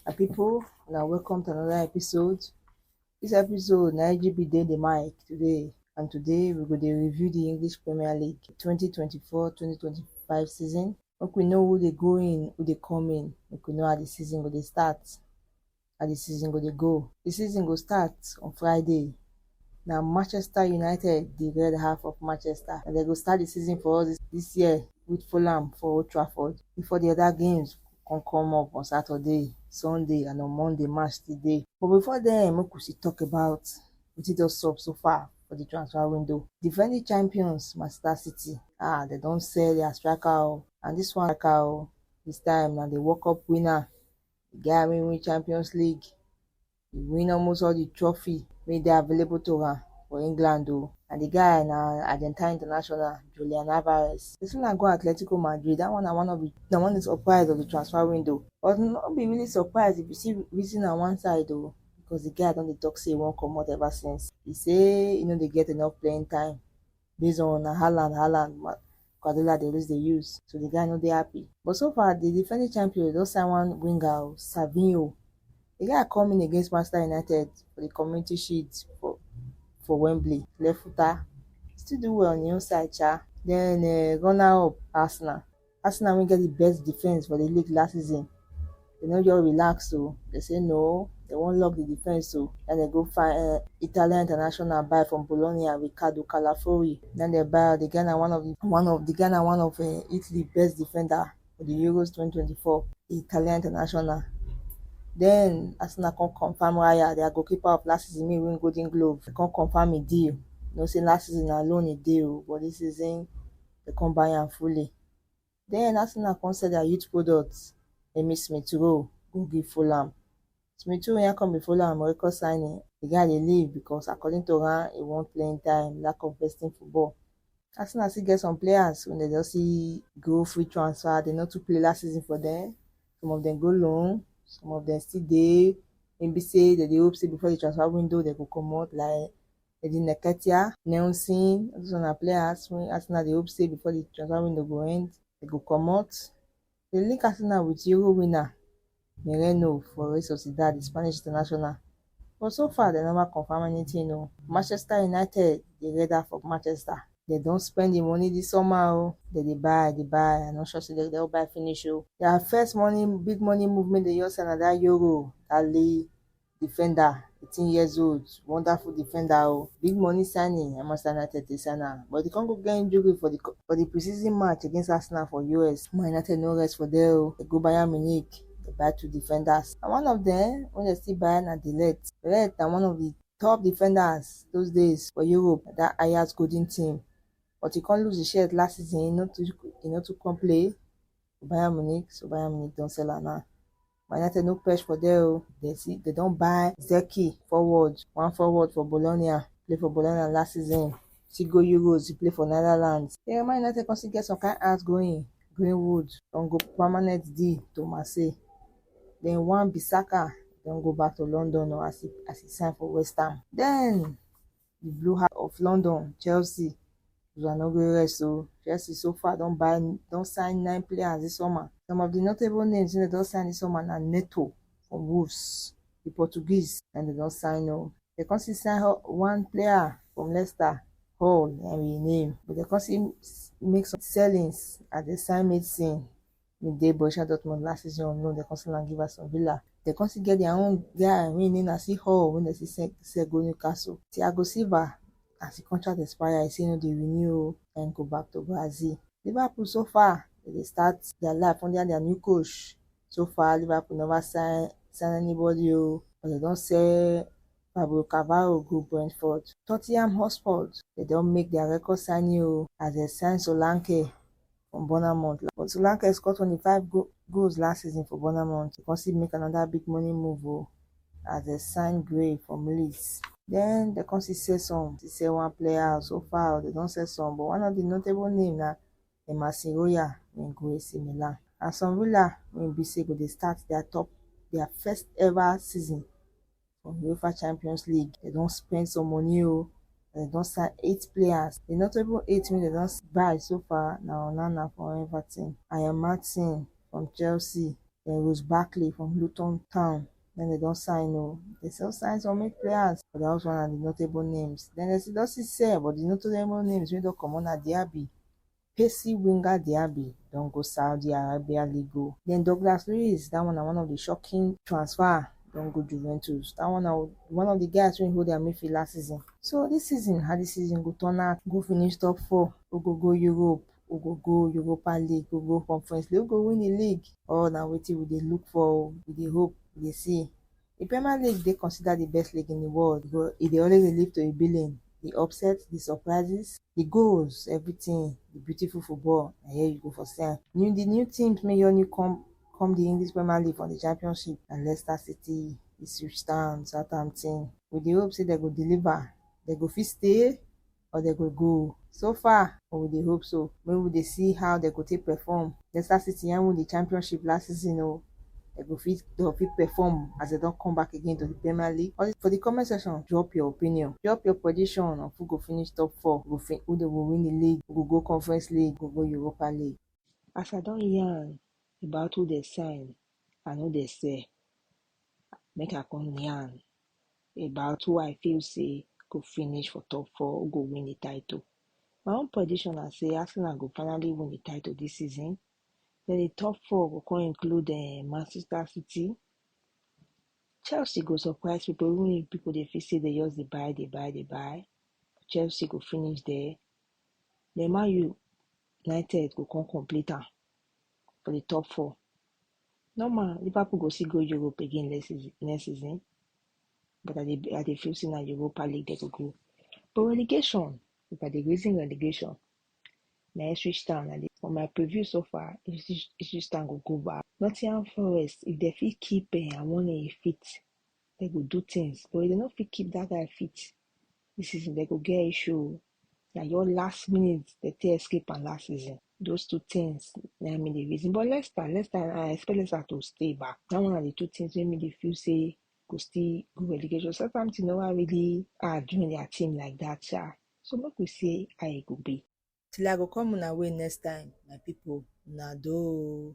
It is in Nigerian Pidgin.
My people, una welcome to another episode. This episode na IGB dey the mic today and today we go dey review the English Premier League 2024-2025 season. Make we know who dey go in, who dey come in, make we know how the season go dey start, how the season go dey go. The season go start on Friday, Na Manchester United dey red half of Manchester and dem go start the season for us this year with Fulham for Old Trafford before the other games come come up on Saturday, Sunday and on Monday match still dey. But before then, make we still talk about wetin don sup so far for the transfer window. Defending champions Manchester City ah dem don sell their striker o and this one striker o this time na the World Cup winner, the guy wey win Champions League He win almost all the trophy wey dey available to am for England o and the guy na Argentine international Julian Alvarez. Person na go Atletico Madrid, that one na one of the na one of the surprise of the transfer window but no be really surprise if you see reason am one side o because the guy don dey talk say he wan comot ever since. He say he no dey get enough playing time based on na Haaland Haaland Guardiola dey always dey use so the guy no dey happy but so far the defending champions don sign one winger o Savinho the guy come in against Manchester United for the community shield for for Wembley left footer still do well on him own side sha then uh, runner up Arsenal Arsenal wey get di best defence for di league last season, dem no just relax o, dem say no, dem wan lock di defence o, na im dem go find um Italian international buy from Bologna, Riccardo Calafori, na im dem buy am, di guy na one of di one of di guy na one of um Italy best defender for di Euros twenty twenty four, di Italian international, den Arsenal kon confam Raya dia goalkeeper of last season mey e win golden glove, kon confam e deal, you know sey last season na loan e dey o but dis season. dem come buy am fully. Den as una come sell dia youth products, den me Smith Rowe go gree follow am. Smith Rowe yan come dey follow am record signing, di guy dey leave because according to am, e want playing time, lack of besting football. Arsenal still get some players wey dem just see go free transfer, dem no too play last season for dem, some of dem go loan, some of dem still dey wey be sey dem dey hope sey before di transfer window dem go comot like dem dey neketia. Nelson, all those ones na player Arsenal Arsenal dey hope say before the transfer window go end, dem go comot. Dem link Arsenal with Euro winner Mereno for Real Sociedad, the Spanish international, but so far dem never confirm anything o. Manchester United dey redder for Manchester. Dem don spend the money this summer o. Dem dey buy, dey buy, I no sure say dem go don buy finish o. Their first money, big money move make dem just sign na that Euro, that Li Defender eighteen years old wonderful defender o big money signing na Manchester United take sign am but e come go get injury for the for the pre-season match against Arsenal for US Man United no rest for there o dem go Bayern Munich dem buy two defenders and one of them wey dem still buy na De Ligt De Ligt na one of the top defenders those days for Europe that Ajax golden team but he come lose the shirt last season he no too he no too come play for Bayern Munich so Bayern Munich don sell am now Manate no perch for there o, dem see dem don buy Zeki forward, one forward for Bologna, play for Bologna last season, still go Euros, he play for Netherlands. Then Man United come still get some kind outgoing, Greenwood don go permanent deal to Marseille, then Wan-Bissaka don go back to London o as he as he sign for West Ham. Then di Blue House of London, Chelsea una no gree rest o, Chelsea so far don buy don sign nine players dis summer. Some of di notable names wey dem don sign dis summer na Neto from Wolves, di Portuguese na im dem don sign o. Dem come still sign one player from Leicester, Hall na im be im name. But dem come still make some sellings as dem sign Mason we dey Borussia Dortmund last season on loan, dem come sell am give Aston Villa. Dem come still get their own guy wey im name na Seahall wey dem still sell sell go Newcastle. Thiago Silva as im contract expire, e say e no dey renew o, na im go back to Brazil. Liverpool so far dem dey start their life under their new coach. So far Liverpool never sign sign anybody o, but dem don sell Fabio Carvalho go Brentford. Tottenham Hotspur dem don make their record signing o as dem sign Solanke from Bournemouth. But Solanke score 25 go goals last season for Bournemouth. He consider make another big money move oh, as they sign Gray from Leeds. Then they consider sell some, they sell one player so far, they don't sell some. But one of the notable name na Emerson Royal when go AC Milan. And some Villa when be say go they start their top, their first ever season for UEFA Champions League. They don't spend some money oh. They don't sign eight players. The notable eight wey they don't buy so far na Onana from Everton, Ian Martin from Chelsea, then Rose Barkley from Luton Town. Then they don't sign oh. They still sign some eight players, but that was one of the notable names. Then they still don't see sell, but the notable names wey don comot na Diaby, Pacey winger Diaby don go Saudi Arabia Ligo. Then Douglas Luiz, that one na one of the shocking transfer, don go Juventus. That one na one of the guys wey hold their midfield last season. So this season, how this season go turn out, who go finish top four, who go go Europe, who go go Europa League, who go Conference League, who go win the league, all na wetin we dey look for o, we dey hope, we dey see. Di Premier League dey considered di best league in di world but e dey always dey lead to di billing, di upsets, di surprises, di goals, everything, di beautiful football na here you go for see am. New Di new teams make just new come come di English Premier League from di Championship na Leicester City, Ipswich Town, Southampton. We dey hope say dem go deliver, dem go fit stay? or dem go go. So far, but we dey hope so. Make we dey see how dem go take perform. Leicester City yan win di championship last season o, dem go fit dem go fit perform as dem don come back again to di Premier League? For di comment section, drop your opinion, drop your prediction of who go finish top four, who go who dem go win di league, who go go Conference League, who go go Europa League. As I don yan about who dem sign and who dem sell, Make I come yarn about who I feel say go finish for top four, who go win the title. My own prediction na say Arsenal go finally win the title this season. Then the top four go come include uh, Manchester City. Chelsea go surprise people, even if people they feel say they just they buy, they buy, they buy. Chelsea go finish there. Then Man U United go come complete am for the top four. No man, Liverpool go still go Europe again next season, next season. But I dey I dey feel say na Europa League they go go. But relegation, if I dey reason relegation, na Ipswich Town I dey for my preview so far, Ipswich Ipswich Town go go back. Nottingham Forest, if they fit keep um Awoniyi fit, they go do things. But if they no fit keep that guy fit this season, they go get issue o. na your last minute they take escape and last season. Those two things na me the reason. But Leicester, Leicester, I expect Leicester to stay back. That one are the two things wey me dey feel say go still go relegation. Southampton no wan really ah join their team like that sha. So make we see how e go be. Till I go come una way next time, my people, una do.